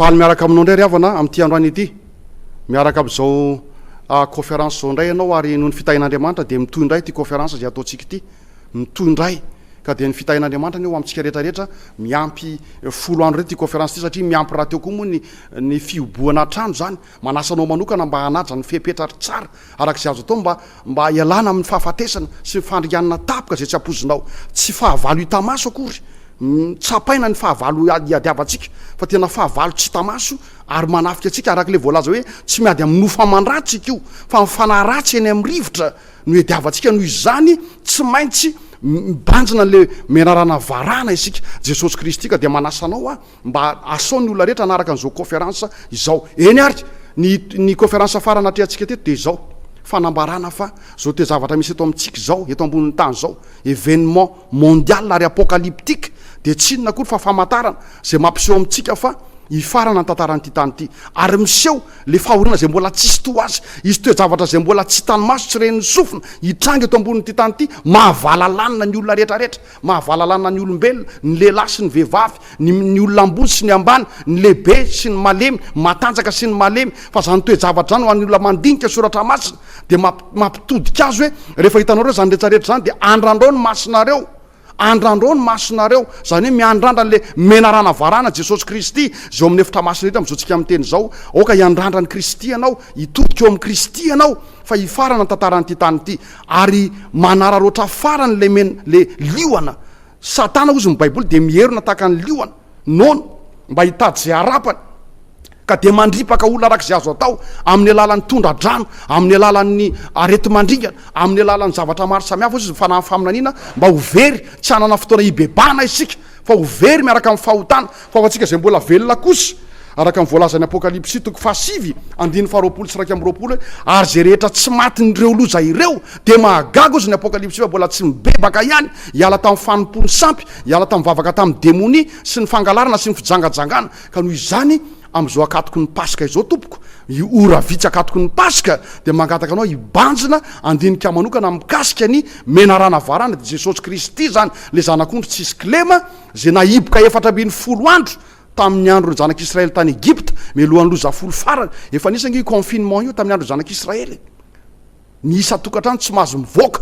Faly miaraka aminao indray ry havana amin'ity androany ity. Miaraka amin'izao conférence izao indray ianao ary noho ny fitahian'Andriamanitra dia mitohy indray ity conférence izay ataontsika ity. Mitohy indray. Ka dia ny fitahian'Andriamanitra anie ho amintsika rehetra rehetra miampy folo andro indray ity conférence ity satria miampy rahateo koa moa ny ny fihobohana hatrany izany Manasa anao manokana mba hanaja ny fepetra ary tsara araka izay azo atao mba mba hialana amin'ny fahafatesana sy ny fandringanana tampoka izay tsy ampoizinao. Tsy fahavalo hita maso akory. Tsapaina ny fahavalo iadiavantsika fa tena fahavalo tsy hita maso ary manafika antsika araka ilay voalaza hoe tsy miady amin'ny nofo aman-dratsy ikoa fa ny fanahy ratsy eny amin'ny rivotra no iadiavantsika noho izany tsy maintsy mibanjina an'ilay menarana varahana isika. Jesosy Kristy ka dia manasa anao Mba asao ny olona rehetra hanaraka an'izao kaoferansa izao. Eny ary, ny ny kaoferansa farany natrehantsika teto dia izao, fanambarana fa izao toe-javatra misy eto amintsika izao, eto ambonin'ny tany izao, événement mondial ary apocalyptique, dia tsy inona akory fa famantarana izay mampiseho amintsika fa hifarana ny tantaran'ity tany ity. Ary miseho ilay fahoriana izay mbola tsisy toa azy. Hisy toe-javatra izay mbola tsy hitan'ny maso, tsy ren'ny sofina, hitranga eto ambonin'ity tany ity, mahavalalanina ny olona rehetrarehetra. Mahavalalana ny olombelona, ny lehilahy sy ny vehivavy, ny ny olona ambony sy ny ambany, ny lehibe sy ny malemy, ny matanjaka sy ny malemy, fa izany toe-javatra izany ho an'ny olona mandinika soratra masina dia mamp mampitodika azy hoe rehefa hitanareo izany rehetra rehetra izany dia andrandrao ny masonareo, andrandrao ny masonareo, izany hoe miandrandra an'ilay menarana varahana Jesosy Kristy izay ao amin'ny efitra masina eto amin'izao tsika miteny izao, aoka hiandrandra an'i Kristy ianao, hitodika ao amin'i Kristy ianao fa hifarana ny tantaran'ity tany ity. Ary manararaotra farany ilay men, le liona. Satana ozy ny baiboly dia mierona tahaka ny liona, nono, mba hitady izay harapany. Ka dia mandripaka olona arak'izay azo atao, amin'ny alalan'ny tondra-drano, amin'ny alalan'ny areti-mandringana, amin'ny alalan'ny zavatra maro samihafa ozy ny fanahy faminaniana mba ho very, tsy hanana fotoana hibebahana isika, fa ho very miaraka amin'ny fahotana, fa ho antsika izay mbola velona kosa, araka ny voalazan'ny Apokalypsy toko fahasivy andininy faharoapolo sy iraika amby roapolo hoe, Ary izay rehetra tsy matin'ireo loza ireo, dia mahagaga hozy ny Apokalypsy fa mbola tsy mibebaka ihany, hiala tamin'ny fanompoan'ny sampy, hiala tamin'ny vavaka tamin'ny demonia, sy ny fangalarana sy ny fijangajangana, ka noho izany, Amin'izao akatoky ny Paska izao, tompoko, io ora vitsy akatoky ny Paska, dia mangataka anao hibanjina handinika manokana mikasika ny menarana varana, dia Jesosy Kristy izany, ilay Zanak'ondry tsy hisy kilema, izay nahiboka efatra ambin'ny folo andro tamin'ny andron'ny zanak'Israely tany Egypta, mialohan'ny loza folo farany. Efa nisy ange io confinement io tamin'ny andron'ny zanak'Israely. Ny isan-tokantrano tsy mahazo mivoaka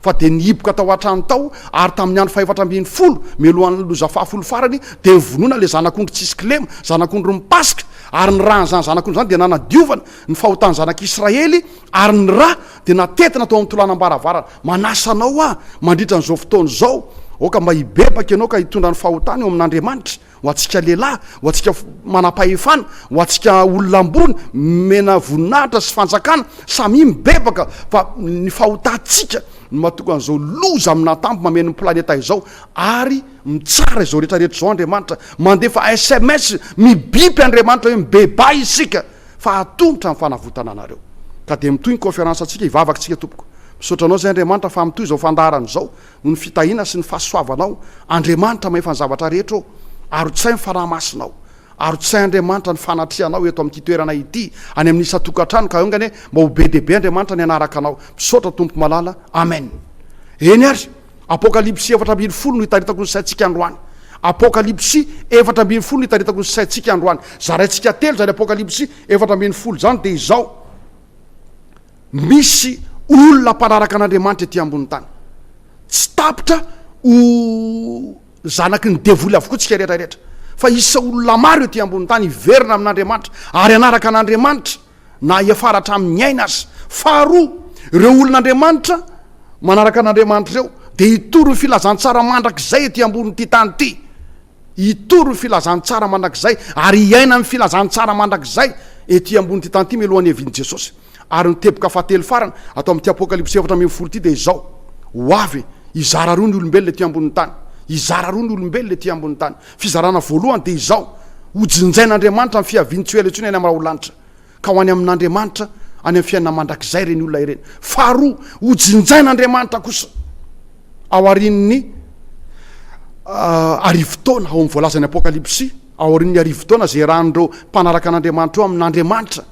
fa dia ny hiboka tao an-trano tao ary tamin'ny andro fahefatra ambin'ny folo mialohan'ny loza fahafolo farany dia novonoina ilay zanak'ondry tsisy kilema, zanak'ondry mipasika, ary ny ràn'izany zanak'ondry izany dia nanadiovana ny fahotan'ny zanak'Israely ary ny rà dia natentina tao amin'ny tolanam-baravarana. Manasa anao aho mandritra an'izao fotoana izao, aoka mba hibebaka ianao ka hitondra ny fahotany eo amin'Andriamanitra. Ho antsika lehilahy, ho antsika manam-pahefana, ho antsika olona ambony, omena voninahitra sy fanjakana, samia mibebaka fa ny fahotantsika no mahatonga an'izao loza amina tambo mameno ny planeta izao ary mitsara izao rehetra rehetra izao Andriamanitra, mandefa sms mibipy Andriamanitra hoe mibebaha isika fa hatomotra ny fanavotana anareo ka dia mitohy ny conférence antsika hivavaka isika tompoko. Misaotra anao izay Andriamanitra fa mitohy izao fandaharana izao Noho ny fitahiana sy ny fahasoavanao, Andriamanitra Mahefan'ny zavatra rehetra ô, arotsay ny Fanahy Masinao. Arotsay Andriamanitra ny fanatrianao eto amin'ity toerana ity, any amin'ny isan-tokantrano ka haingana e, mba ho be dia be Andriamanitra ny hanaraka anao. Misaotra Tompo malala. Amen. Eny ary, Apokalypsy efatra ambin'ny folo no itaritako ny saintsika androany. Apokalypsy efatra ambin'ny folo no itaritako ny saintsika androany. Zaraintsika telo izany Apokalypsy efatra ambin'ny folo izany dia izao. Misy olona mpanaraka an'Andriamanitra ety ambonin'ny tany. Tsy tapitra ho zanaky ny devoly avokoa tsika rehetra rehetra, fa isa olona maro ety ambonin'ny tany hiverina amin'Andriamanitra ary hanaraka an'Andriamanitra na hiafara hatramin'ny aina aza. Faharoa, ireo olon'Andriamanitra manaraka an'Andriamanitra ireo dia hitory ny filazantsara mandrakizay ety ambonin'ity tany ity. Hitory ny filazantsara mandrakizay ary hiaina ny filazantsara mandrakizay ety ambonin'ity tany ity mialohan'ny hiavian'i Jesosy. Ary ny teboka fahatelo farany ato amin'ity Apokalypsy efatra ambin'ny folo ity dia izao, Ho avy hizara roa ny olombelona ety ambonin'ny tany. Hizara roa ny olombelona ety ambonin'ny tany. Fizarana voalohany dia izao, Hojinjain'Andriamanitra ny fiavian'i Tsioela intsony any amin'ny raholanitra. ka ho any amin'Andriamanitra any amin'ny fiainana mandrakizay ireny olona ireny. Faharoa, hojinjain'Andriamanitra kosa aorian'ny arivo taona, ao amin'ny voalazan'ny Apokalypsy, aorian'ny arivo taona izay iarahan'ireo mpanaraka an'Andriamanitra eo amin'Andriamanitra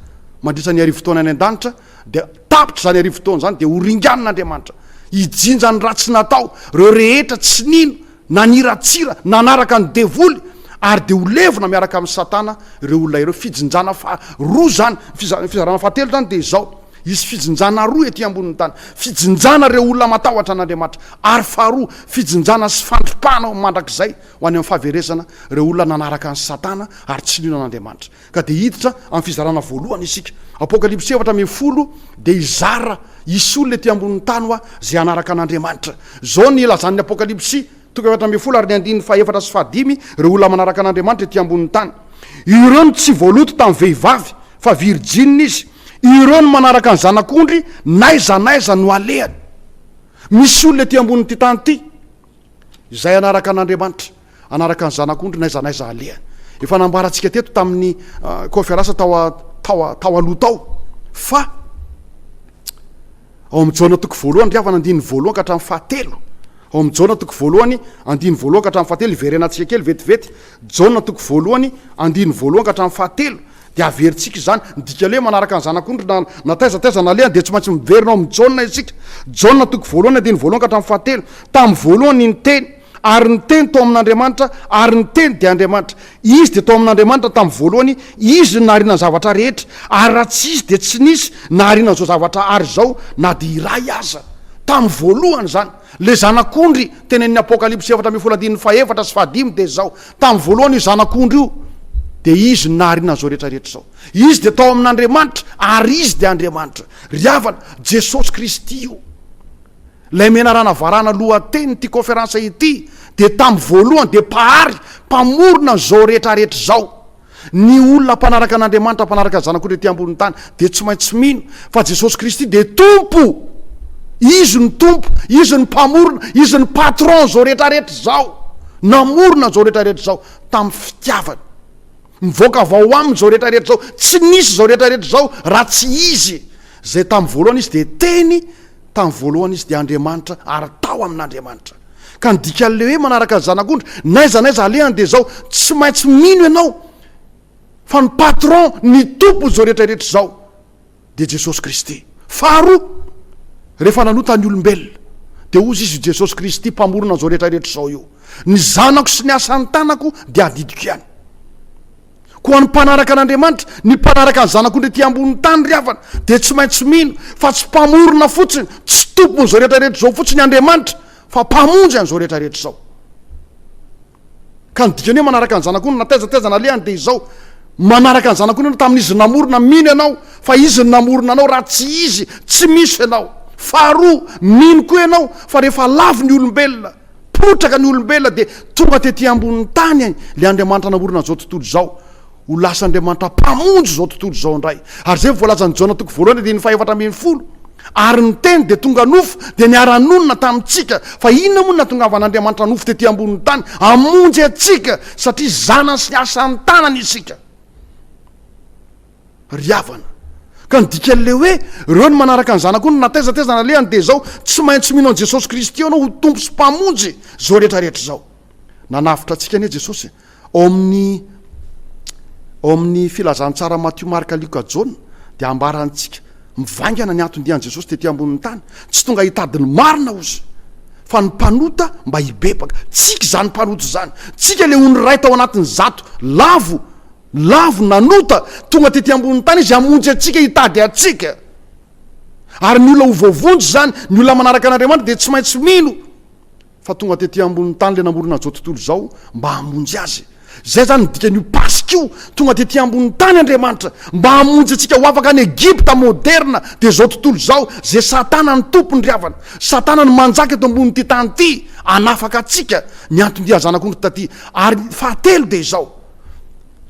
mandritra ny arivo taona any an-danitra, dia tapitra izany arivo taona izany dia horinganin'Andriamanitra hijinja ny ratsy natao, ireo rehetra tsy nino Naniratsira, nanaraka ny devoly, ary dia ho levona miaraka amin'i Satana ireo olona ireo. Fijinjana faha roa izany. Ny fizarana faha telo izany dia izao, hisy fijinjana roa ety ambonin'ny tany, fijinjana ireo olona matahotra an'Andriamanitra, ary faha roa, fijinjana sy fandripahana mandrakizay ho any amin'ny fahaverezana ireo olona nanaraka an'i Satana ary tsy nino an'Andriamanitra. Ka dia hiditra amin'ny fizarana voalohany isika. Apokalypsy efatra ambin'ny folo dia hizara, Hisy olona ety ambonin'ny tany hoa izay hanaraka an'Andriamanitra. Izao no ilazan'ny Apokalypsy, toko efatra ambin'ny folo ary ny andininy fahefatra sy fahadimy, Ireo olona manaraka an'Andriamanitra ety ambonin'ny tany. Ireo no tsy voaloto tamin'ny vehivavy, fa virjinina izy. Ireo no manaraka ny Zanak'ondry n'aiza n'aiza no alehany. Misy olona ety ambonin'ity tany ity izay hanaraka an'Andriamanitra. hanaraka ny zanak'ondry n'aiza n'aiza halehany. Efa nambarantsika teto tamin'ny kaonferansa tao tao tao aloha tao fa ao amin'ny Jaona toko voalohany ry havana andininy voalohany ka hatramin'ny fahatelo ao amin'ny Jaona toko voalohany andininy voalohany ka hatramin'ny fahatelo iverenantsika kely vetivety Jaona toko voalohany andininy voalohany ka hatramin'ny fahatelo de averintsika izany midika le manaraka ny zanak'ondry na na taiza taiza nalehany de tsy maintsy miverina ao amin'ny Jaona isika Jaona toko voalohany andininy voalohany ka hatramin'ny fahatelo tamin'ny voalohany ny teny Ary ny Teny tao amin'Andriamanitra, ary ny Teny dia Andriamanitra. Izy dia tao amin'Andriamanitra tamin'ny voalohany, Izy no nahariana ny zavatra rehetra, ary raha tsy Izy dia tsy nisy nahariana an'izao zavatra ary izao na dia iray aza. Tamin'ny voalohany izany. Ilay Zanak'ondry tenenin'ny Apokalypsy efatra ambin'ny folo andininy fahefatra sy fahadimy dia izao, Tamin'ny voalohany io Zanak'ondry io, dia Izy no nahariana an'izao rehetra rehetra izao. Izy dia tao amin'Andriamanitra, ary Izy dia Andriamanitra. Ry havana, Jesosy Kristy io. Ilay menarana varana lohatenin'ity kaoferansa ity dia tamin'ny voalohany dia Mpahary mpamorona an'izao rehetra rehetra izao. Ny olona mpanaraka an'Andriamanitra, mpanaraka ny Zanak'ondry ety ambonin'ny tany dia tsy maintsy mino fa Jesosy Kristy dia Tompo. Izy no Tompo, Izy no Mpamorona, Izy no Patron an'izao rehetra rehetra izao. Namorona an'izao rehetra rehetra izao tamin'ny fitiavany. Mivoaka avy ao aminy izao rehetra rehetra izao, tsy nisy izao rehetra rehetra izao raha tsy izy izay tamin'ny voalohany izy dia teny, tamin'ny voalohany izy dia Andriamanitra ary tao amin'Andriamanitra. Ka ny dikan'ilay hoe manaraka ny zanak'ondry, n'aiza n'aiza alehany dia izao, tsy maintsy mino ianao fa ny patron, ny tompon'izao rehetra rehetra izao. dia Jesosy Kristy. Faharoa, rehefa nanota ny olombelona, dia hozy Izy, Jesosy Kristy, Mpamorona an'izao rehetra rehetra izao io. Ny zanako sy ny asan'ny tanako dia adidiko ihany. Koa ny mpanaraka an'Andriamanitra, ny mpanaraka ny zanako indray ety ambonin'ny tany ry havana, dia tsy maintsy mino fa tsy Mpamorona fotsiny, tsy Tompon'izao rehetra rehetra izao fotsiny Andriamanitra, fa Mpamonjy an'izao rehetra rehetra izao. Ka ny dikany hoe manaraka ny zanak'ondry na taiza taiza nalehany dia izao, manaraka ny zanak'ondry ianao tamin'izy namorona, mino ianao fa izy no namorona anao, raha tsy izy tsy misy ianao. Faharoa, mino koa ianao fa rehefa lavo ny olombelona, potraka ny olombelona dia tonga tety ambonin'ny tany ilay Andriamanitra namorona an'izao tontolo izao, Ho lasan'Andriamanitra Mpamonjy izao tontolo izao indray. Ary izay voalazan'i Jaona toko voalohany andininy fahefatra ambin'ny folo, Ary ny Teny dia tonga nofo, dia niara-nonina tamintsika. Fa inona moa no nahatongavan'Andriamanitra nofo tetỳ ambonin'ny tany? Hamonjy antsika, satria zanany sy ny asan'ny tanany isika. Ry havana, ka ny dikan'ilay hoe ireo no manaraka ny Zanako no nataiza taiza nalehany dia izao, tsy maintsy mino an'i Jesosy Kristy ianao ho Tompo sy Mpamonjy izao rehetra rehetra izao. Nanavotra antsika anie Jesosy e! Ao amin'ny Ao amin'ny Filazantsara Matio Marka Lioka Jaona dia ambarantsika mivaingana ny anton-dian'i Jesosy tety ambonin'ny tany, tsy tonga hitady ny marina ozy fa ny mpanota mba hibebaka. Tsika izany mpanota izany, tsika ilay ony iray tao anatin'ny zato lavo lavo nanota, tonga tety ambonin'ny tany izy hamonjy antsika, hitady antsika. Ary ny olona ho voavonjy izany, ny olona manaraka an'Andriamanitra dia tsy maintsy mino. fa tonga tety ambony tany le namorona zao tontolo zao mba hamonjy azy zay zany ny dikan'io paska io tonga tety ambony tany Andriamanitra mba hamonjy antsika ho afaka any Egypta moderna de zao tontolo zao ze satana ny tompony ry havana satana ny manjaka eto ambony ity tany ity anafaka antsika ny anton-dia zanak'ondry taty ary fahatelo de izao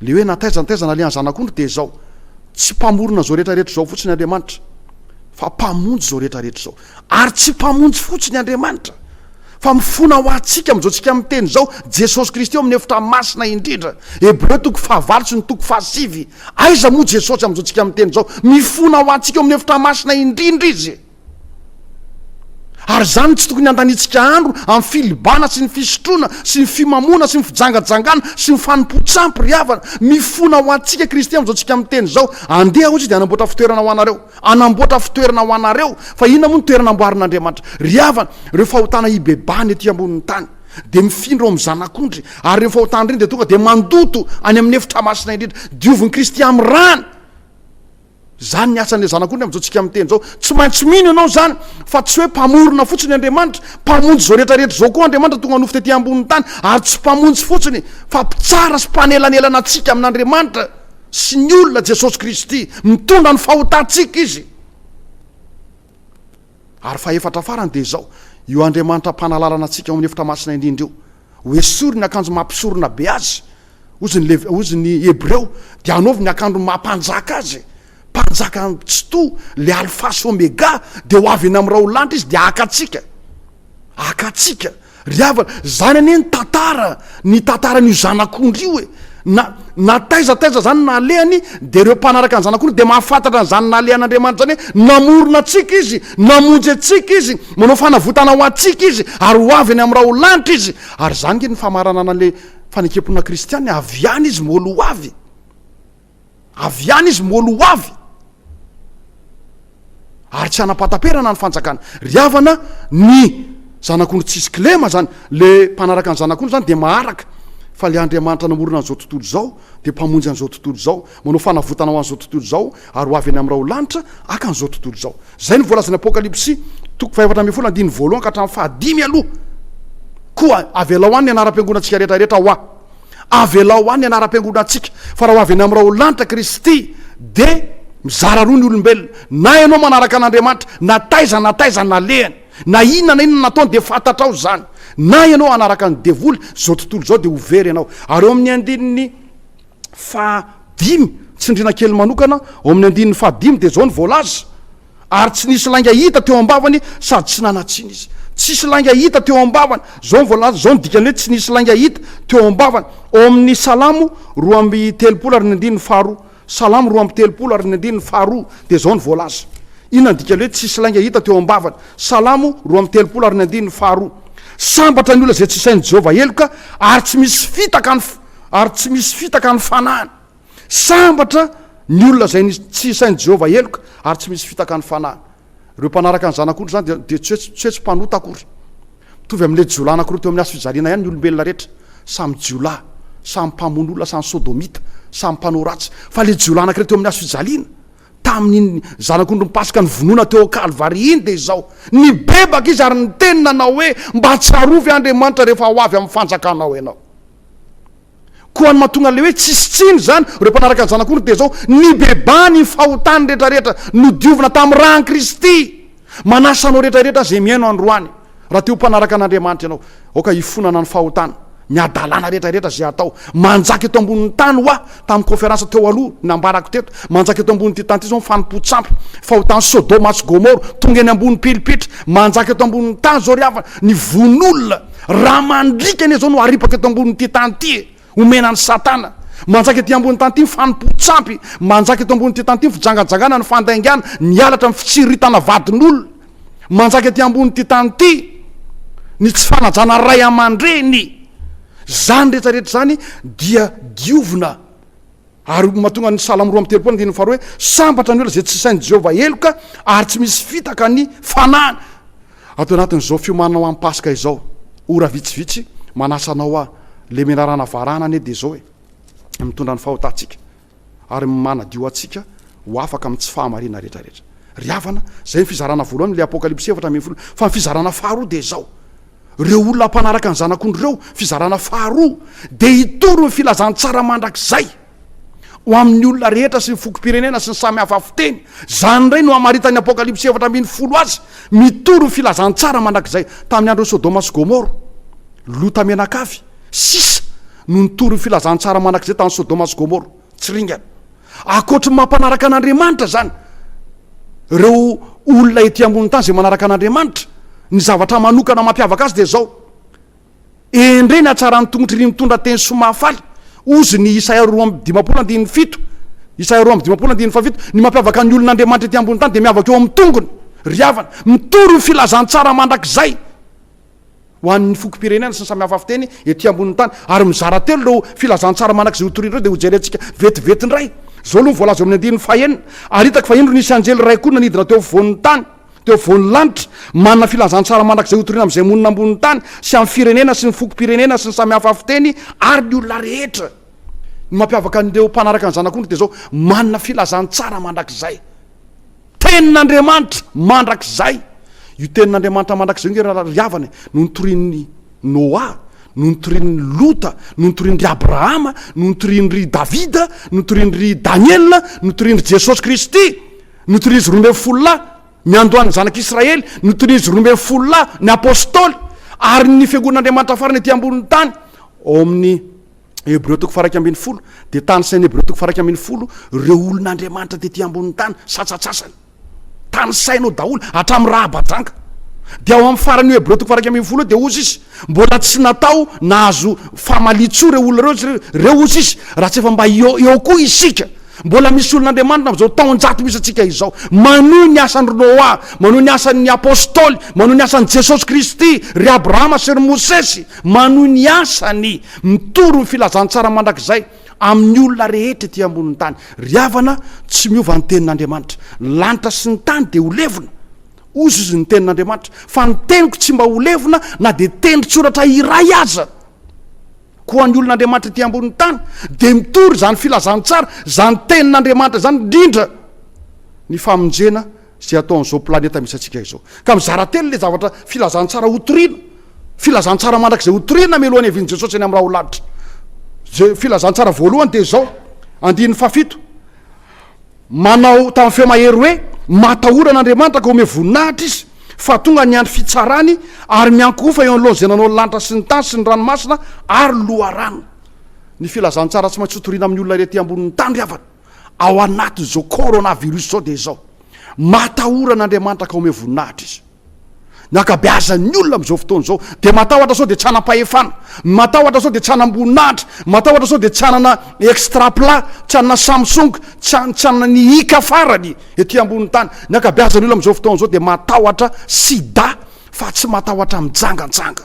le hoe na taiza na taiza nalehan'ny zanak'ondry de izao tsy mpamorona zao rehetra rehetra zao fotsiny Andriamanitra fa mpamonjy zao rehetra rehetra zao Ary tsy Mpamonjy fotsiny Andriamanitra, fa mifona ho antsika amin'izao tsika miteny izao, Jesosy Kristy eo amin'ny efitra masina indrindra. Hebreo toko fahavalo sy ny toko fahasivy. Aiza moa Jesosy amin'izao tsika miteny izao? Mifona ho antsika eo amin'ny efitra masina indrindra Izy. Ary izany tsy tokony handaniantsika andro amin'ny filibana sy ny fisotroana sy ny fimamoana sy ny fijangajangana sy ny fanompoan-tsampy ry havana. Mifona ho antsika Kristy amin'izao tsika miteny izao, Andeha hoy Izy dia hanamboatra fitoerana ho anareo. Hanamboatra fitoerana ho anareo. Fa inona moa no toerana amboarin'Andriamanitra? Ry havana, ireo fahotana hibebahana ety ambonin'ny tany dia mifindra ao amin'ny Zanak'ondry, ary ireny fahotana ireny dia tonga dia mandoto any amin'ny efitra masina indrindra. Diovin'i Kristy amin'ny rany. Izany ny asan'ilay Zanak'ondry amin'izao tsika miteny izao. Tsy maintsy mino ianao izany, fa tsy hoe Mpamorona fotsiny Andriamanitra. Mpamonjy izao rehetra rehetra izao koa Andriamanitra tonga nofo tety ambonin'ny tany, ary tsy Mpamonjy fotsiny, fa Mpitsara sy Mpanelanelana antsika amin'Andriamanitra. sy ny olona Jesosy Kristy, mitondra ny fahotantsika Izy. Ary fahefatra farany dia izao, io Andriamanitra mpanalalana antsika ao amin'ny efitra masina indrindra io, hoesory ny akanjo maha mpisorona be Azy, hozy ny Lev, hozy ny Hebreo, dia hanaovy ny akandro maha mpanjaka Azy, mpanjaka tsitoha, ilay Alfa sy Omega, dia ho avy eny amin'ny raolanitra Izy dia haka antsika, haka antsika. Ry havana, zany anie ny tantara, ny tantaran'io zanak'ondry io e! Na, na taiza taiza zany nalehany, dia ireo mpanaraka ny zanak'ondry dia mahafantatra an'izany nalehan'Andriamanitra izany hoe, namorona antsika Izy, namonjy antsika Izy, manao fanavotana ho antsika Izy, ary ho avy any amin'ny raholanitra Izy. Ary izany ange ny famaranana an'ilay fanekemponana kristiana, avy any Izy, moly ho avy. Avy any izy moalo ho avy ary tsy hanapataperana ny fanjakana. Ry havana, ny zanak'ondry tsisy kilema zany, le mpanaraka ny zanak'ondry zany dia maharaka fa le Andriamanitra namorona an'izao tontolo izao dia mpamonjy an'izao tontolo izao, manao fanavotana ho an'izao tontolo izao ary ho avy eny amin'ny raholanitra haka an'izao tontolo izao. Zay no voalazan'ny Apokalypsy toko fahefatra ambin'ny folo andininy voalohany ka hatramin'ny fahadimy aloha. Koa avelao any ny anaram-piangonantsika rehetra rehetra hoa. Avelao any ny anaram-piangonantsika, fa raha ho avy eny amin'ireo ho lanitra Kristy, dia mizara roa ny olombelona, na ianao manaraka an'Andriamanitra, na taiza na taiza nalehany, na inona na inona nataony, dia fantatrao izany, na ianao hanaraka ny devoly izao tontolo izao, dia ho very ianao. Ary ao amin'ny andininy faha dimy, tsindriana kely manokana, ao amin'ny andininy faha dimy dia izao no voalaza, Ary tsy nisy lainga hita teo am-bavany sady tsy nanan-tsiny izy. Tsisy lainga hita teo am-bavany. Izao ny voalaza, izao ny dikany hoe tsy nisy lainga hita teo am-bavany. Ao amin'ny Salamo roa amby telopolo ary ny andininy faharoa. Salamo roa amby telopolo ary ny andininy faharoa, dia izao ny voalaza. Inona ny dikany hoe tsisy lainga hita teo am-bavany? Salamo roa amby telopolo ary ny andininy faharoa. Sambatra ny olona izay tsy isain'i Jehovah heloka, ary tsy misy fitaka ny, ary tsy misy fitaka ny fanahiny. Sambatra ny olona izay nisy tsy isain'i Jehovah heloka ary tsy misy fitaka ny fanahiny. Ireo mpanaraka ny Zanak'ondry izany dia dia tsy hoe tsy hoe tsy mpanota akory. Mitovy amin'ilay jiolahy anankiroa teo amin'ny hazo fijaliana ihany ny olombelona rehetra. Samy jiolahy, samy mpamono olona, samy sodomita, samy mpanao ratsy. Fa ilay jiolahy anankiray teo amin'ny hazo fijaliana, tamin'iny Zanak'ondrin'ny Paska novonoina teo amin'ny Kalvary iny dia izao, Nibebaka izy ary niteny nanao hoe, Mba tsarovy ahy Andriamanitra rehefa ho avy amin'ny fanjakanao ianao. Koa ny mahatonga an'ilay hoe tsisy tsiny izany ireo mpanaraka ny Zanak'ondry dia izao, Nibebaha ny fahotany rehetrarehetra nodiovina tamin'ny ran'i Kristy. Manasa anao rehetrarehetra izay mihaino androany, raha te ho mpanaraka an'Andriamanitra ianao, aoka hifonana ny fahotana miadalàna rehetrarehetra izay hatao. Manjaka eto ambonin'ny tany hoa, tamin'ny kaonferansa teo aloha, ny nambarako teto, manjaka eto ambonin'ity tany ity izao ny fanompoan-tsampy, fahotan'i Sodoma sy Gomora, tonga eny ambony pilipitra. Manjaka eto ambonin'ny tany izao ry havana, ny vono olona. Raha mandriaka anie izao no haripaka eto ambonin'ity tany ity e! Omena an'i Satana. Manjaka ety ambonin'ny tany ity ny fanompoan-tsampy, manjaka eto ambonin'ity tany ity ny fijangajangana, ny fandaingana, ny halatra, ny fitsiritana vadin'olona. Manjaka ety ambonin'ity tany ity ny tsy fanajana ray aman-dreny. Izany rehetra rehetra izany dia diovina. Ary hoy ny mahatonga ny Salamo roa amby telopolo andininy faharoa hoe, Sambatra ny olona izay tsy sain'i Jehovah heloka, ary tsy misy fitaka ny fanahiny. Ato anatin'izao fiomanana ho an'ny Paska izao, ora vitsivitsy, manasa anao aho, ilay menarana varahana anie dia izao e, mitondra ny fahotantsika ary manadio antsika ho afaka amin'ny tsy fahamarinana rehetrarehetra. Ry havana, izay ny fizarana voalohany amin'ilay Apokalypsy efatra ambin'ny folo. Fa ny fizarana faharoa dia izao. ireo olona mpanaraka ny Zanak'ondry ireo, fizarana faharoa, dia hitory ny filazantsara mandrakizay ho amin'ny olona rehetra sy ny fokom-pirenena sy ny samy hafa fiteny. Izany indray no hamaritan'ny Apokalypsy efatra ambin'ny folo azy, mitory ny filazantsara mandrakizay tamin'ny andron'i Sodoma sy Gomora, Lota menakavy, sisa no nitory ny filazantsara mandrakizay tany Sodoma sy Gomora. Tsy ringana. Ankoatry ny mampanaraka an'Andriamanitra izany, ireo olona ety ambonin'ny tany izay manaraka an'Andriamanitra, ny zavatra manokana mampiavaka azy dia izao, Endrey ny hatsaran'ny tongotry ry mitondra teny soa mahafaly, hozy ny Isaia roa amby dimampolo andininy fito, Isaia roa amby dimampolo andininy fahafito, Ny mampiavaka ny olon'Andriamanitra ety ambonin'ny tany dia miavaka eo amin'ny tongony, ry havana, mitory ho filazantsara mandrakizay. ho an'ny fokom-pirenena sy ny samy hafa fiteny ety ambonin'ny tany ary mizara telo ireo filazantsara manak'izay ho toriana ireo dia hojerentsika vetivety indray izao aloha ny voalaza eo amin'ny andininy fahenina ary hitako fa indro nisy anjely iray koa nanidina teo afovoan'ny tany teo afovoan'ny lanitra manana filazantsara manak'izay ho toriana amin'izay monina ambonin'ny tany sy amin'ny firenena sy ny fokom-pirenena sy ny samy hafa fiteny ary ny olona rehetra ny mampiavaka an'ireo mpanaraka ny zanak'ondry dia izao manana filazantsara mandrakizay Tenin'Andriamanitra mandrakizay. Io Tenin'Andriamanitra mandrakizay io nge rahalahy ry havana e, no nitorian'i Noa, no nitorian'i Lota, no nitorian-dry Abrahama, no nitorian-dry Davida, no nitorian-dry Daniela, no nitorian-dry Jesosy Kristy, notorian'izy roa ambin'ny folo lahy niandohan'ny zanak'Israely, notorian'izy roa ambin'ny folo lahy ny Apostoly, ary ny Fiangonan'Andriamanitra farany ety ambonin'ny tany ao amin'ny Hebreo toko faraika ambin'ny folo dia tany saina Hebreo toko faraika ambin'ny folo ireo olona Andriamanitra tety ambonin'ny tany satsasasany tany sainao daholo hatramin'ny rahabadranka dia ao amin'ny farany Hebreo toko faraika ambin'ny folo dia ozy izy mbola tsy natao nahazo famalitsoa ireo olona ireo ireo ozy izy raha tsy efa mba eo eo koa isika mbola misy olona Andriamanitra amin'izao taon-jato misy antsika izao manohy ny asan'ny Noa manohy ny asan'ny apôstôly manohy ny asan'i Jesosy Kristy ry Abrahama sy ry Mosesy manohy ny asany Mitory ny filazantsara mandrakizay amin'ny olona rehetra ety ambonin'ny tany. Ry havana, tsy miova ny tenin'Andriamanitra. Ny lanitra sy ny tany dia ho levona, hoy izy, ny tenin'Andriamanitra, fa ny teniko tsy mba ho levona na dia tendrotsoratra iray aza. Koa ny olon'Andriamanitra ety ambonin'ny tany dia mitory izany filazantsara, izany tenin'Andriamanitra izany, indrindra ny famonjena Izay ataon'izao planeta misy antsika izao. Ka mizara telo ilay zavatra filazantsara hotorina, filazantsara mandrakizay hotorina mialohan'ny havian'i Jesosy any amin'ny raha ho laditra. Izay filazantsara voalohany dia izao, andininy fahafito. Manao tamin'ny feo mahery hoe, Matahora an'Andriamanitra ka omeo voninahitra izy, fa tonga ny andro fitsarany, ary miankohofa eo anoloan'izay nanao ny lanitra sy ny tany sy ny ranomasina ary ny loharano. Ny filazantsara tsy maintsy hotorina amin'ny olona ety ambonin'ny tany ry havana. ao anatin'izao coronavirus izao dia izao, matahora an'Andriamanitra ka omeo voninahitra Izy. Ny ankabeazan'ny olona amin'izao fotoana izao dia matahotra sao dia tsy hanam-pahefana, matahotra sao dia tsy hanam-boninahitra, matahotra sao dia tsy hanana extra plat, tsy hanana Samsung, tsy han- tsy hanana ny ika farany ety ambonin'ny tany. Ny ankabeazan'ny olona amin'izao fotoana izao dia matahotra sida fa tsy matahotra mijanganjanga.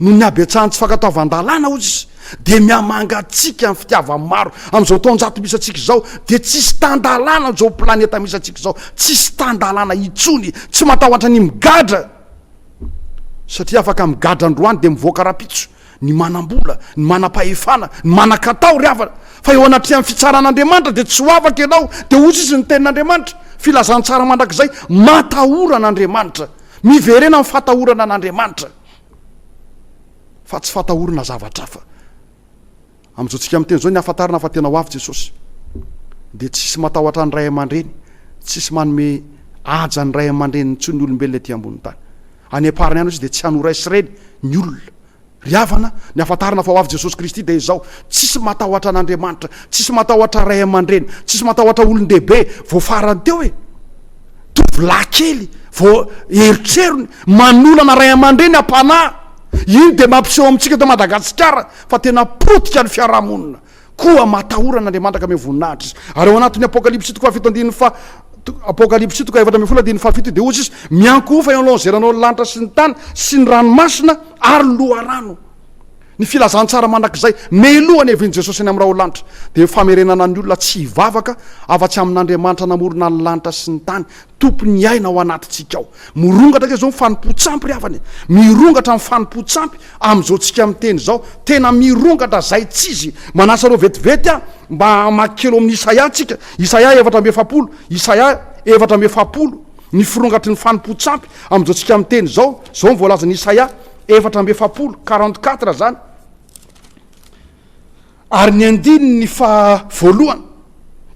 Noho ny habetsahan'ny tsy fankatoavan-dalàna, hoy izy, dia mihamangatsiaka ny fitiavan'ny maro. Amin'izao taonjato misy antsika izao, dia tsisy tan-dalàna amin'izao planeta misy antsika izao, tsisy tan-dalàna intsony, tsy matahotra ny migadra, satria afaka migadra androany dia mivoaka rahampitso. Ny manam-bola, ny manam-pahefana, ny manan-katao ry havana, fa eo anatrehan'ny fitsaran'Andriamanitra dia tsy ho afaka ianao, dia hoy izy ny tenin'Andriamanitra, filazantsara mandrakizay, matahora an'Andriamanitra, miverena amin'ny fatahorana an'Andriamanitra fa tsy fatahorana zavatra hafa. Amin'izao tsika miteny izao ny ahafantarana fa tena ho avy Jesosy dia tsy hisy matahotra ny ray aman-dreny, tsy hisy manome haja ny ray aman-dreniny intsony ny olombelona ety ambonin'ny tany. Any am-parany any hozy dia tsy hanoray sy reny ny olona. Ry havana, ny ahafantarana fa ho avy Jesosy Kristy dia izao, tsy hisy matahotra an'Andriamanitra, tsy hisy matahotra ray aman-dreny, tsy hisy matahotra olon-dehibe vao farany teo e! Tovolahy kely vao erotrerony manolana ray aman-dreny am-panahy, iny dia mampiseho amintsika eto Madagasikara Fa tena potika ny fiarahamonina, koa matahora an' Andriamanitra ka miha voninahitra izy. Ary ao anatin'ny Apokalypsy toko fahafito andininy faha, Apokalypsy toko efatra ambin'ny folo andininy fahafito dia hozy izy, Miankohofa eo anoloan'izay nanao ny lanitra sy ny tany sy ny ranomasina ary ny loharano. Ny filazantsara mandrakizay meloha ny hevin'i Jesosy any amin'ny raholanitra dia famerenana ny olona tsy hivavaka afa-tsy amin' Andriamanitra namorona ny lanitra sy ny tany, Tompon'ny aina ao anatintsika ao. Mirongatra ange izao ny fanompoan-tsampy ry havana e! Mirongatra ny fanompoan-tsampy amin'izao tsika miteny izao. Tena mirongatra zaitsizy. Manasa anareo vetivety aho mba hamaky kely ao amin'ny Isaia tsika. Isaia efatra amby efapolo. Isaia efatra amby efapolo. Ny firongatry ny fanompoan-tsampy amin'izao tsika miteny izao. Izao ny voalazan'i Isaia efatra amby efapolo, quarante quatre izany. Ary ny andininy faha voalohany,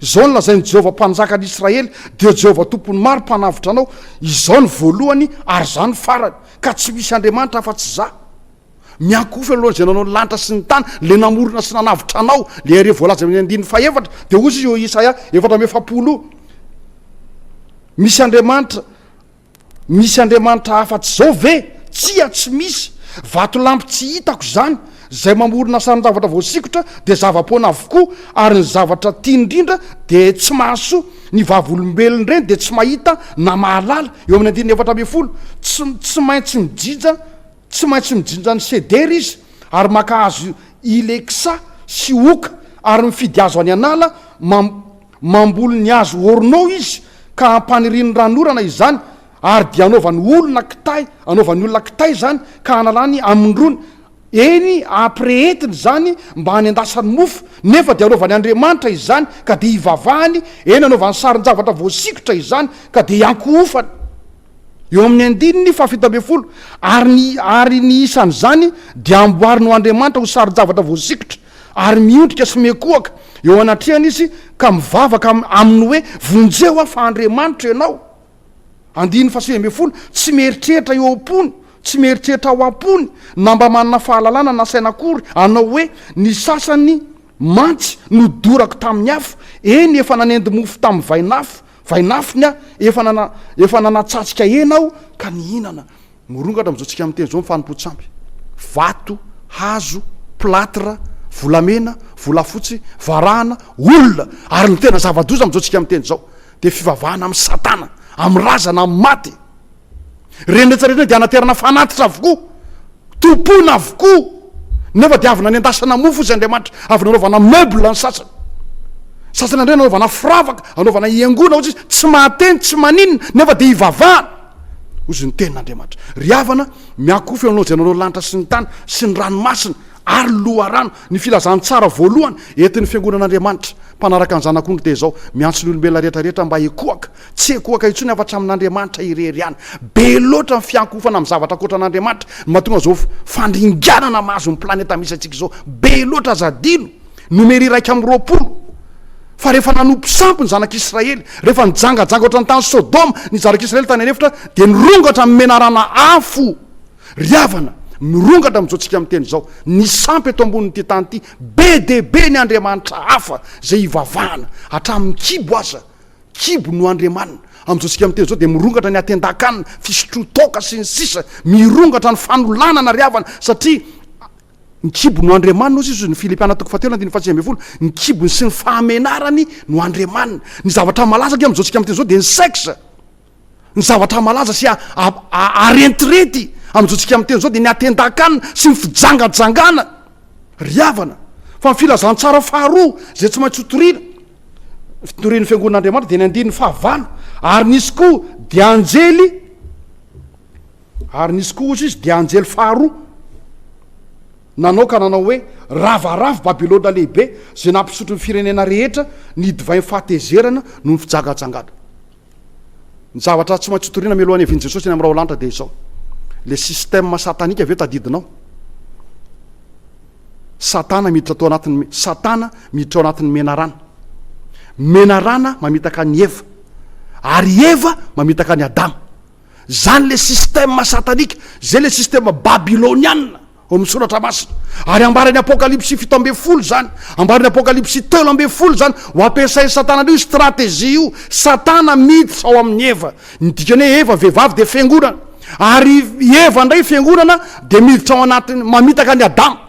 Izao no lazain'i Jehovah Mpanjaka an'i Israely, Dia Jehovah Tompon'ny maro mpanavotra anao, Izao no voalohany ary izaho no farany, ka tsy misy andriamanitra afa-tsy izaho. Miankohofa eo anoloan'izay nanao ny lanitra sy ny tany, ilay namorona sy nanavotra anao. Ilay Irery voalaza eo amin'ny andininy fahaefatra dia hoy izy eo Isaia efatra amby efapolo, Misy andriamanitra Misy andriamanitra afatsy izao ve? Tsia tsy misy! Vatolampy tsy hitako izany! Izay mamorona sarin-javatra voasikotra dia zava-poana avokoa ary ny zavatra tiany indrindra dia tsy mahasoa! Ny vavolombelona ireny dia tsy mahita na mahalala! Eo amin'ny andininy efatra ambin'ny folo, tsy tsy maintsy mijinja tsy maintsy mijinja ny sedera izy ary maka hazo ileksa sy oka ary mifidy hazo any an'ala, mam. Mamboly ny hazo orno izy ka hampaniriany ran'orana izany ary dia hanaovany olona kitay, hanaovany olona kitay izany ka hanalany amin-drony, eny, hampirehetiny izany mba hanendasany mofo, nefa dia hanaovany andriamanitra izany ka dia hivavahany, eny, hanaovany sarin-javatra voasikotra izany ka dia hiankohofany. Eo amin'ny andininy fahafito ambin'ny folo, Ary ny, ary ny isan'izany dia amboariny ho andriamanitra, ho sarin-javatra voasikotra, Ary miondrika sy mikohaka eo anatrehany izy ka mivavaka aminy hoe, Vonjeo aho fa Andriamanitra ianao. Andininy fahasivy ambin'ny folo, Tsy mieritreritra eo am-pony, tsy mieritreritra ao am-pony, na mba manana fahalalana na saina akory, hanao hoe, Ny sasany mantsy nodorako tamin'ny afo, eny, efa nanendy mofo tamin'ny vainafo, vainafony aho, efa nanatsatsikahena aho ka nihinana. Mirongatra amin'izao tsika miteny izao ny fanompoan-tsampy. Vato, hazo, plâtre, volamena, volafotsy, varahana, olona, ary ny tena zava-doza amin'izao tsika miteny izao dia fivavahana amin'ny satana, amin'ny razana, amin'ny maty. Ireny rehetra ireny dia hanaterana fanatitra avokoa, tompoina avokoa, nefa dia avy nanendasana mofo izy Andriamanitra, avy nanaovana meuble ny sasany. Sasany indray nanaovana firavaka, anaovana hiangoana, hoy izy, tsy mahateny, tsy maninona, nefa dia hivavahana. Hoy izy ny tenin'Andriamanitra, Ry havana, miankohofa eo anao izay nanao ny lanitra sy ny tany sy ny ranomasina ary ny loharano. Ny filazantsara voalohany entin'ny fiangonan'Andriamanitra mpanaraka ny Zanak'ondry dia izao, Miantso ny olombelona rehetra rehetra mba hikohaka. Tsy ekohaka intsony afa-tsy amin'Andriamanitra irery ihany. Be loatra ny fiankohofana amin'ny zavatra ankoatra an'Andriamanitra no mahatonga izao fandringanana mahazo ny planeta misy antsika izao be loatra aza adino Nomery iraika amby roapolo fa rehefa nanompo sampy ny zanak'i Israely, rehefa nijangajanga ohatran'ny tany Sodoma ny zanak'i Israely tany an'efitra, dia nirongatra amin'ny menarana afo. Ry havana, mirongatra amin'izao tsika miteny izao, ny sampy eto ambonin'ity tany ity, be dia be ny andriamanitra hafa izay ivavahana, hatramin'ny kibo aza, kibo no andriamanina. Amin'izao tsika miteny izao dia mirongatra ny atendakan, fisotroan-toaka sy ny sisa, mirongatra ny fanolanana ry havana, satria, Ny kibony no andriamaniny, hoy Jesosy, Ny Filipiana toko fahatelo andininy fahasivy ambin'ny folo, ny kibony sy ny fahamenarany no andriamaniny. Ny zavatra malaza ange amin'izao tsika amin'ny teny izao dia ny sex. Ny zavatra malaza sy arentirety amin'izao tsika amin'ny teny izao dia ny atendan-kanina sy ny fijangajangana. Ry havana, fa ny filazantsara faharoa izay tsy maintsy hotorina, fitorian'ny fiangonan'Andriamanitra dia ny andininy fahavalo, ary nisy koa dia anjely, Ary nisy koa, hoy izy, dia anjely faharoa nanao ka nanao hoe, Ravaravo Babylona Lehibe, izay nampisotro ny firenena rehetra ny divain'ny fahatezerana noho ny fijangajangana. Ny zavatra tsy maintsy hotorina mialohan'ny hiavian'i Jesosy eny amin'ny raolanitra dia izao, ilay système satanika ve tadidinao? Satana miditra tao anatin'ny Satana miditra ao anatin'ny menarana. Menarana mamitaka an'i Eva, ary Eva mamitaka an'i Adama. Zany le système satanika, zay le système babylonianina ao amin'ny soratra masina. Ary ambaran'ny apokalypsy fito ambin'ny folo zany, ambaran'ny apokalypsy telo ambin'ny folo zany, ho ampiasain'i satana an'io stratégie io, satana miditra ao amin'i Eva, ny dikany hoe Eva vehivavy dia fiangonana, ary i Eva indray fiangonana dia miditra ao anatiny, mamitaka an'i Adama.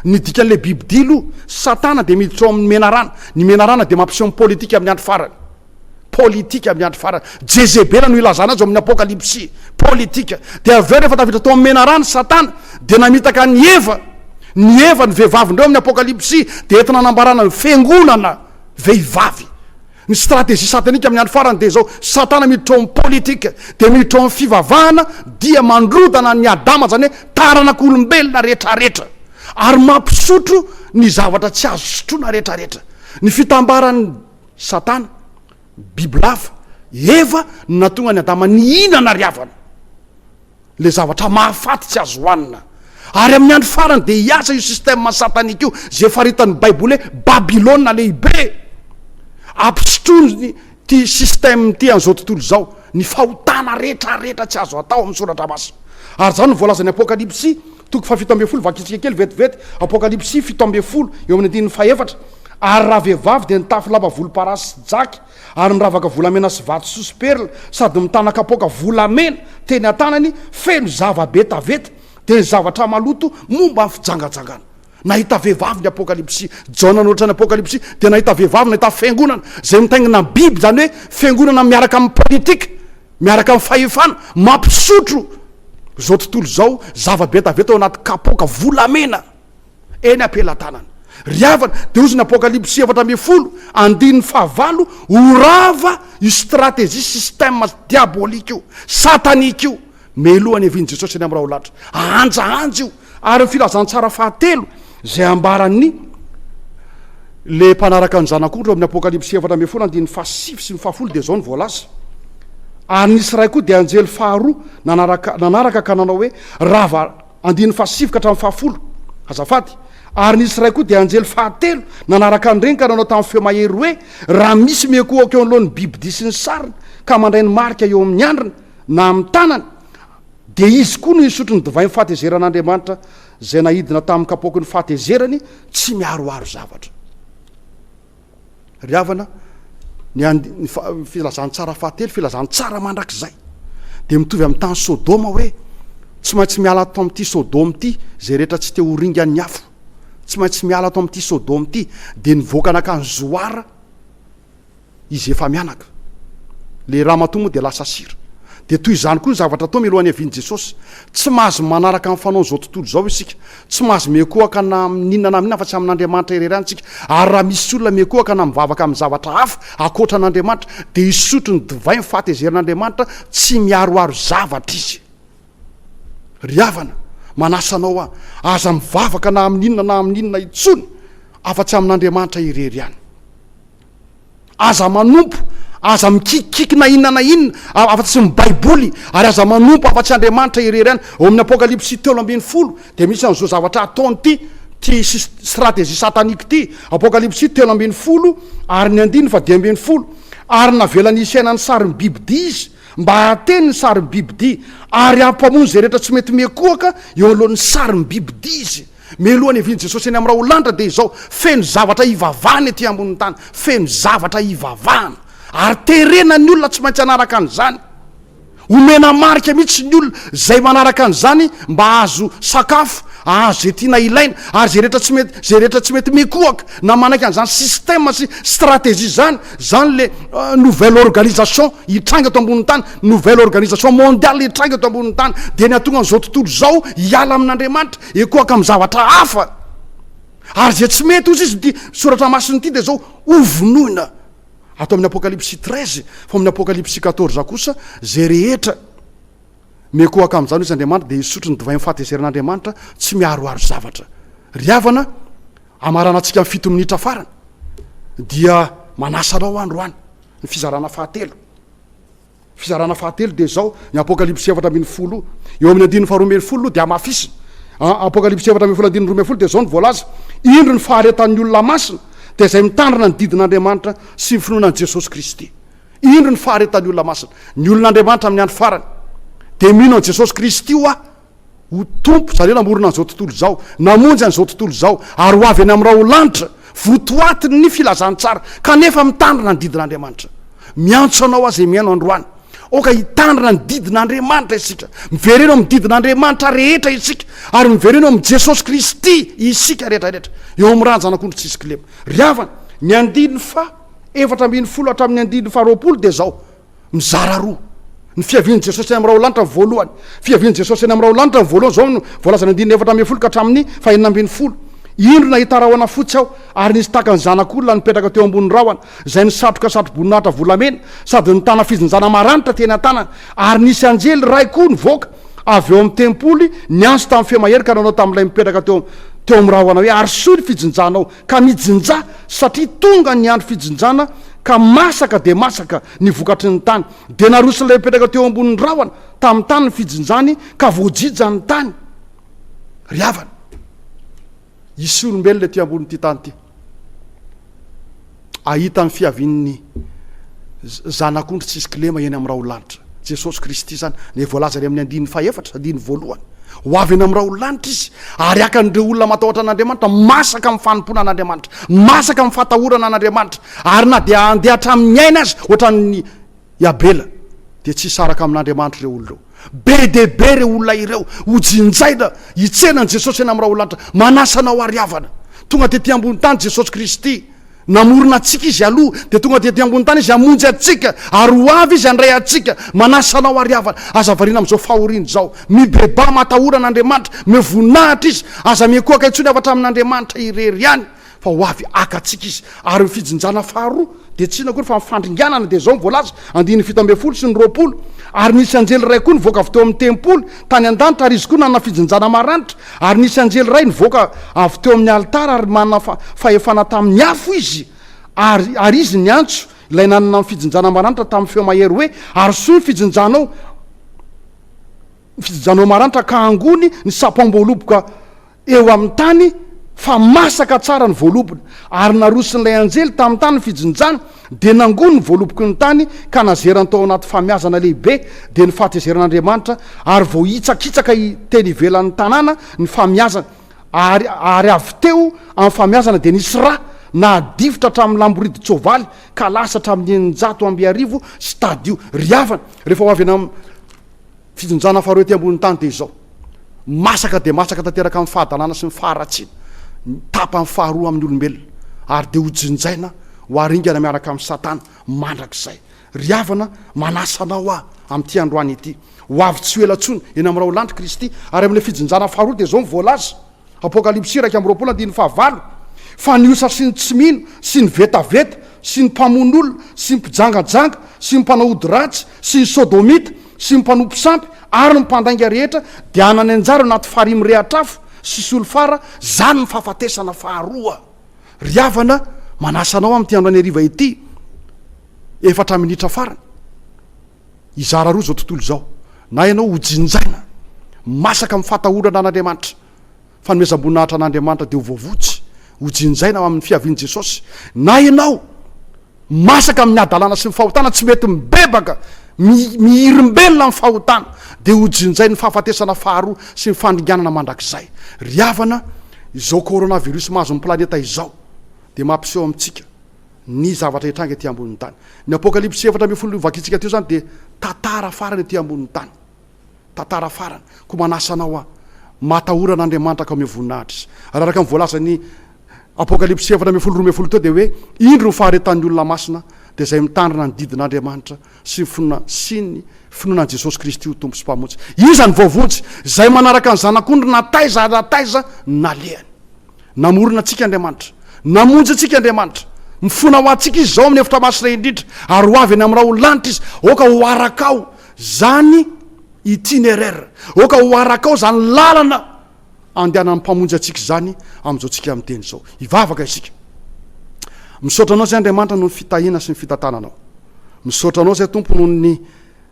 Ny dikan'ilay bibidila io, satana dia miditra ao amin'ny menarana, ny menarana dia mampiseho ny politika amin'ny andro farany. Politika miandry farany. Jezebela no ilazana azy ao amin'ny Apokalypsy. Politika. Dia avy eo rehefa tafiditra tao amin'ny menarana i Satana, dia namitaka an'i Eva. Ny Eva, ny vehivavin-dreo amin'ny Apokalypsy, dia entina anambarana ny fiangonana vehivavy. Ny stratégie satanika amin'ny andro farany dia izao, Satana miditra ao amin'ny politika, dia miditra ao amin'ny fivavahana, dia mandrodana an'i Adama, izany hoe taranak'olombelona rehetrarehetra. Ary mampisotro ny zavatra tsy azo sotroina rehetrarehetra. Ny fitambaran'ny Satana, bibilava, Eva no nahatonga an'i Adama nihinana ary havana ilay zavatra mahafaty tsy azo hohanina. Ary amin'ny andro farany dia hiasa io système satanika io izay faritan'ny Baiboly hoe Babylona Lehibe. Ampisotroiny ity système ity an'izao tontolo izao ny fahotana rehetrarehetra tsy azo atao amin'ny Soratra Masina. Ary izany no voalazan'ny Apokalypsy. Toko fahafito ambin'ny folo, vakitsika kely vetivety, Apokalypsy fito ambin'ny folo, eo amin'ny andininy fahefatra, Ary raha vehivavy dia nitafy lamba volomparasy sy jaky, ary miravaka volamena sy vatosoa sy perla, sady mitana kapoaka volamena teny an-tanany, feno zava-betaveta, dia ny zavatra maloto momba ny fijangajangana. Nahita vehivavy ny Apokalypsy. Jaona no nanoratrany Apokalypsy dia nahita vehivavy, nahita fiangonana izay mitaingina ny biby, izany hoe fiangonana miaraka amin'ny politika, miaraka amin'ny fahefana, mampisotro izao tontolo izao zava-betaveta ao anaty kapoaka volamena eny am-pelatanana. Ry havana, dia hoy izy ny Apokalypsy efatra ambin'ny folo, andininy fahavalo, Ho rava io stratejia, système, diabolika io, satanika io, Meloha ny hevin'i Jesosy eny amin'ny Raholahy ahanjahanjy io, ary ny filazantsara fahatelo izay ambaran'ny ilay mpanaraka ny Zanak'ondry ao amin'ny Apokalypsy efatra ambin'ny folo andininy fahasivy sy ny fahafolo dia izao no voalaza, Ary nisy iray koa, dia anjely faharoa, nanaraka, nanaraka ka nanao hoe, Rava, andininy fahasivy ka hatramin'ny fahafolo, azafady, Ary nisy iray koa, dia anjely fahatelo, nanaraka an'ireny ka nanao tamin'ny feo mahery hoe, Raha misy mihekohoka eo anoloan'ny bibidia sy ny sariny, ka mandray ny marika eo amin'ny andriny, na amin'ny tanany, dia izy koa no hisotro ny divain'ny fahatezeran'Andriamanitra, izay naidina tamin'ny kapoaky ny fahatezerany tsy miaroaro zavatra. Ry havana, ny and, ny fa, filazantsara fahatelo, filazantsara mandrakizay, dia mitovy amin'ny tany Sodoma hoe, Tsy maintsy miala ato amin'ity Sodoma ity izay rehetra tsy te ho ringan'ny afo. Tsy maintsy miala ato amin'ity Sodoma ity. Dia nivoaka nankany Zoara. izy efa mianaka. Ilay ramatoa moa dia lasa sira. Dia toy izany koa ny zavatra atao mialohan'ny havian'i Jesosy. Tsy mahazo manaraka ny fanaon'izao tontolo izao isika. Tsy mahazo miankohoka na amin'inona na amin'inona afa-tsy amin'Andriamanitra irery ihany isika. Ary raha misy olona miankohoka na mivavaka amin'ny zavatra hafa ankoatra an'Andriamanitra, dia hisotro ny divay ny fahatezerin'Andriamanitra, tsy miharoharo zavatra izy. Ry havana, manasa anao aho, aza mivavaka na amin'inona na amin'inona intsony afa-tsy amin'Andriamanitra irery ihany. Aza manompo, aza mikikikiky na inona na inona afa-tsy ny Baiboly, ary aza manompo afa-tsy Andriamanitra irery ihany. Ao amin'ny Apokalypsy telo ambin'ny folo dia misy an'izao zavatra ataony ity, ity stratégie satanique ity. Apokalypsy telo ambin'ny folo ary ny andininy fadimy ambin'ny folo. Ary navelany hisaina ny sarin'ny bibidia izy, Mba ateno ny sarim-bibidia, ary ampamono izay rehetra tsy mety miakohoka eo anoloan'ny sarim-bibidia izy. Mialoha ny hiavian'i Jesosy eny amin'ny raholanitra dia izao, feno zavatra hivavahana ety ambonin'ny tany, feno zavatra hivavahana. Ary terena ny olona tsy maintsy hanaraka an'izany. Omena marika mihitsy ny olona izay manaraka an'izany mba hahazo sakafo, hahazo izay tiana ilaina, ary izay rehetra tsy mety, izay rehetra tsy mety miakohoka na manaiky an'izany système sy stratégie izany, Zany le nouvelle organisation hitranga eto ambonin'ny tany, nouvelle organisation mondiale hitranga eto ambonin'ny tany, dia ny hahatonga an'izao tontolo izao hiala amin'Andriamanitra, hikohaka amin'ny zavatra hafa. Ary izay tsy mety, hoy Jesosy, ity soratra masina ity dia izao, hovonoina ato amin'ny Apokalypsy treize, fa amin'ny Apokalypsy quatorze kosa izay rehetra mikohaka amin'izany, hoy Andriamanitra, dia hisotro ny divain'ny fahatezeran'Andriamanitra tsy miharoharo zavatra. Ry havana, Hamaranantsika ny fito minitra farany dia manasa anao aho androany ny fizarana fahatelo. Fizarana fahatelo dia izao, ny Apokalypsy efatra ambin'ny folo, eo amin'ny andininy faharoa ambin'ny folo aloha dia hamafisina. A- Apokalypsy efatra ambin'ny folo andininy roa ambin'ny folo dia izao ny voalaza, Indro ny faharetan'ny olona masina, dia izay mitandrina ny didin'Andriamanitra sy ny finoana an'i Jesosy Kristy. Indro ny faharetan'ny olona masina. Ny olon'Andriamanitra amin'ny andro farany dia mino an'i Jesosy Kristy hoa Ho tompo zareo namorona an'izao tontolo izao, namonjy an'izao tontolo izao, ary ho avy any amin'ny raholanitra, votoatin'ny filazantsara, kanefa mitandrina ny didin'Andriamanitra. Miantso anao aho izay mihaino androany, aoka hitandrina ny didin'Andriamanitra isika. Mivereno amin'ny didin'Andriamanitra rehetra isika, ary mivereno amin'i Jesosy Kristy isika rehetrarehetra, eo amin'ny ran'ny Zanak'ondry tsy hisy kilema. Ry havana, ny andininy faha efatra ambin'ny folo hatramin'ny andininy faha roapolo dia izao, mizara roa ny fiavian'i Jesosy any amin'ny raho lanitra voalohany. Fiavian'i Jesosy any amin'ny raho lanitra ny voalohany izao no voalazana andininy efatra ambin'ny folo ka hatramin'ny fahenina ambin'ny folo. Indro nahita rahona fotsy aho, ary nisy tahaka ny zanak'olona nipetraka teo ambonin'ny rahona, izay nisatroka satroboninahitra volamena, sady nitana fijinjana maranitra teny an-tanany. Ary nisy anjely iray koa nivoaka avy ao amin'ny tempoly, niantso tamin'ny feo mahery ka nanao tamin'ilay mipetraka teo teo amin'ny rahona hoe, Arosoy ny fijinjanao, ka nijinja satria tonga ny andro fijinjana ka masaka dia masaka ny vokatry ny tany. Dia naroson'ilay mipetraka teo ambonin'ny rahona tamin'ny tany ny fijinjany ka voajija ny tany. Ry havana, hisy olombelona ety ambonin'ity tany ity hahita ny fiavian'ny Zanak'ondry tsisy kilema eny amin'ny rahon'ny lanitra. Jesosy Kristy izany, dia voalaza any amin'ny andininy fahefatra, andininy voalohany. Ho avy eny amin'ny raolanitra Izy, ary haka an'ireo olona matahotra an'Andriamanitra, masaka amin'ny fanompoana an'Andriamanitra, masaka amin'ny fahatahorana an'Andriamanitra, ary na dia handeha hatramin'ny aina aza, ohatran'ny i Abela, dia tsy hisaraka amin'Andriamanitra ireo olona ireo. Be dia be ireo olona ireo, hojinjaina, hitsena an'i Jesosy eny amin'ny raolanitra. Manasa anao ary havana. Tonga tetỳ ambony tany Jesosy Kristy. Namorona antsika Izy aloha, dia tonga dia ety ambony tany Izy hamonjy antsika, ary ho avy Izy handray antsika. Manasa anao àry havana, aza variana amin'izao fahoriana izao. Mibebaha matahora an'Andriamanitra, omeo voninahitra Izy, aza miankohoka intsony afa-tsy amin'Andriamanitra irery ihany, fa ho avy haka antsika Izy. Ary ny fijinjana faharoa dia tsy inona akory fa ny fandringanana, dia izao no voalaza, andininy fito ambin'ny folo sy ny roapolo, Ary nisy anjely iray koa nivoaka avy teo amin'ny tempoly, tany an-danitra, ary izy koa nanana fijinjana maranitra, Ary nisy anjely iray nivoaka avy teo amin'ny alitara ary manana fahefana tamin'ny afo izy, ary, ary izy niantso ilay nanana ny fijinjana maranitra tamin'ny feo mahery hoe, Arosoy ny fijinjanao, ny fijinjanao maranitra, ka angony ny sapam-boaloboka eo amin'ny tany, fa masaka tsara ny voalobona. Ary naroson'ilay anjely tamin'ny tany ny fijinjana, Dia nangoa ny voaloboky ny tany ka nazerany tao anaty famiazana lehibe, dia ny fahatezeran' Andriamanitra, ary vao hitsakitsaka teny ivelan' ny tanàna ny famiazana, ary ary avy teo amin' ny famiazana dia nisy ra, nahadifotra hatramin' ny lamboridin-tsoavaly ka lasa hatramin' ny eninjato amby arivo sy tadio. Ry havana, rehefa ho avy eny amin'. Fitonjana faharoa ety ambonin'ny tany dia izao. Masaka dia masaka tanteraka amin'ny fahadalana sy ny faharatsiana tapany faharoa amin'ny olombelona ary dia hojinjaina ho haringana miaraka amin'i Satana mandrakizay. Ry havana, manasa anao aho amin'ity androany ity. Ho avy tsy ho ela intsony, eny amin'ny raolandry Kristy, ary amin'ilay fijinjana faharoa dia izao ny voalaza. Apokalypsy iraika amby roapolo andininy fahavalo Fa ny osa sy ny tsy mino sy ny vetaveta sy ny mpamono olona sy ny mpijangajanga sy ny mpanao ody ratsy sy ny sodomita sy ny mpanompo sampy ary ny mpandainga rehetra dia hanany anjara eo anaty farihy mirehatra afo sy solifara, izany ny fahafatesana faharoa. Ry havana, manasa anao amin'ity andro any hariva ity, efatra minitra farany. Hizara roa izao tontolo izao, na ianao ho jinjaina, masaka amin'ny fahatahorana an'Andriamanitra, fanomezam-boninahitra an'Andriamanitra dia ho voavotsy, ho jinjaina amin'ny fiavian'i Jesosy, na ianao masaka amin'ny hadalana sy ny fahotana, tsy mety mibebaka, mihirimbelona amin'ny fahotana, dia ho jinjain'ny fahafatesana faharoa sy ny fandringanana mandrakizay. Ry havana, izao coronavirus mahazo ny planeta izao dia mampiseho amintsika ny zavatra hitranga ety ambonin'ny tany. Ny Apokalypsy efatra ambin'ny folo vakintsika teo izany dia tantara farany ety ambonin'ny tany. Tantara farany. Koa manasa anao aho, matahora an'Andriamanitra ka omeo voninahitra Izy. Ary araka ny voalazan'ny Apokalypsy efatra ambin'ny folo roa ambin'ny folo teo dia hoe, Indro ny faharetan'ny olona masina, dia izay mitandrina ny didin'Andriamanitra sy ny finoana sy ny finoana an'i Jesosy Kristy ho Tompo sy Mpamonjy. Iza no voavonjy? Izay manaraka ny Zanak'ondry na taiza na taiza nalehany. Namorona antsika Andriamanitra. Namonjy antsika Andriamanitra. Mifona ho antsika Izy izao amin'ny efitra masina indrindra, ary ho avy eny amin'ny ra ho lanitra Izy. Aoka ho arakao izany itinéraire. Aoka ho arakao izany lalana Andehanan'ny Mpamonjy antsika izany amin'izao tsika miteny izao. Hivavaka isika. Misaotra Anao izay Andriamanitra noho ny fitahiana sy ny fitantananao. Misaotra Anao izay Tompo noho ny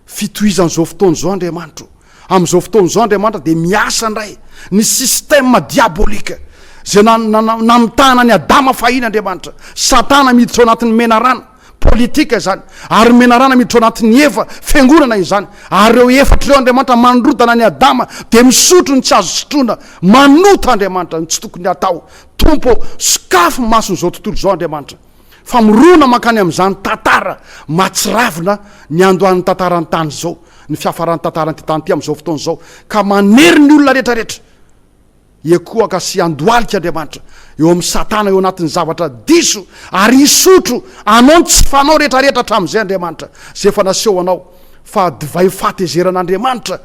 fitohizan'izao fotoana izao Andriamanitra o. Amin'izao fotoana izao Andriamanitra dia miasa indray ny système diabolique izay namitahana an'i Adama fahiny Andriamanitra. Satana miditra ao anatin'ny menarana Politika izany, ary menarana miditra ao anatin'ny efa fiangonana izany, ary ireo efatra ireo Andriamanitra manorodana an'i Adama dia misotro ny tsy azo sotroina, manota Andriamanitra ny tsy tokony hatao. Tompo ô, sokafy maso izao tontolo izao Andriamanitra. Famorona mankany amin'izany tantara mahatsiravina niandohan'ny tantaran'ny tany izao, ny fiafaran'ny tantaran'ity tany ity amin'izao fotoana izao, ka manery ny olona rehetra rehetra. Hiakohaka sy handohalika Andriamanitra eo amin'i Satana eo anatin'ny zavatra diso ary hisotro anao ny tsy fanao rehetrarehetra hatramin'izay Andriamanitra, izay efa naseho anao fa divay fahatezeran'Andriamanitra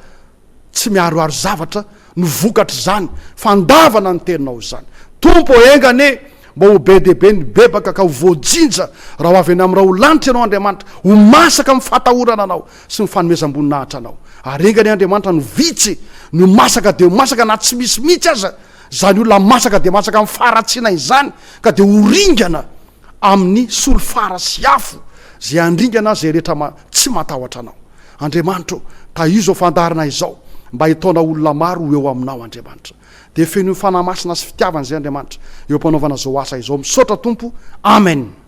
tsy miharoharo zavatra no vokatr'izany fandavana ny teninao izany. Tompo ô, enga anie mba ho be dia be ny bebaka ka ho voajinja raha ho avy any amin'ny Raholanitra ianao Andriamanitra, ho masaka amin'ny fahatahorana anao sy ny fanomezam-boninahitra anao. Ary enga anie Andriamanitra no vitsy ny ho masaka dia ho masaka na tsy misy mihitsy aza izany olona masaka dia masaka amin'ny faharatsiana izany ka dia ho ringana amin'ny solifara sy afo izay handringana izay rehetra ma, tsy matahotra anao. Andriamanitra ô, tahizo izao fandaharana izao mba hitaona olona maro ho eo aminao Andriamanitra. Dia fenoy fanahy masina sy fitiavana izay Andriamanitra eo am-panaovana izao asa izao. Misaotra Tompo. Amen.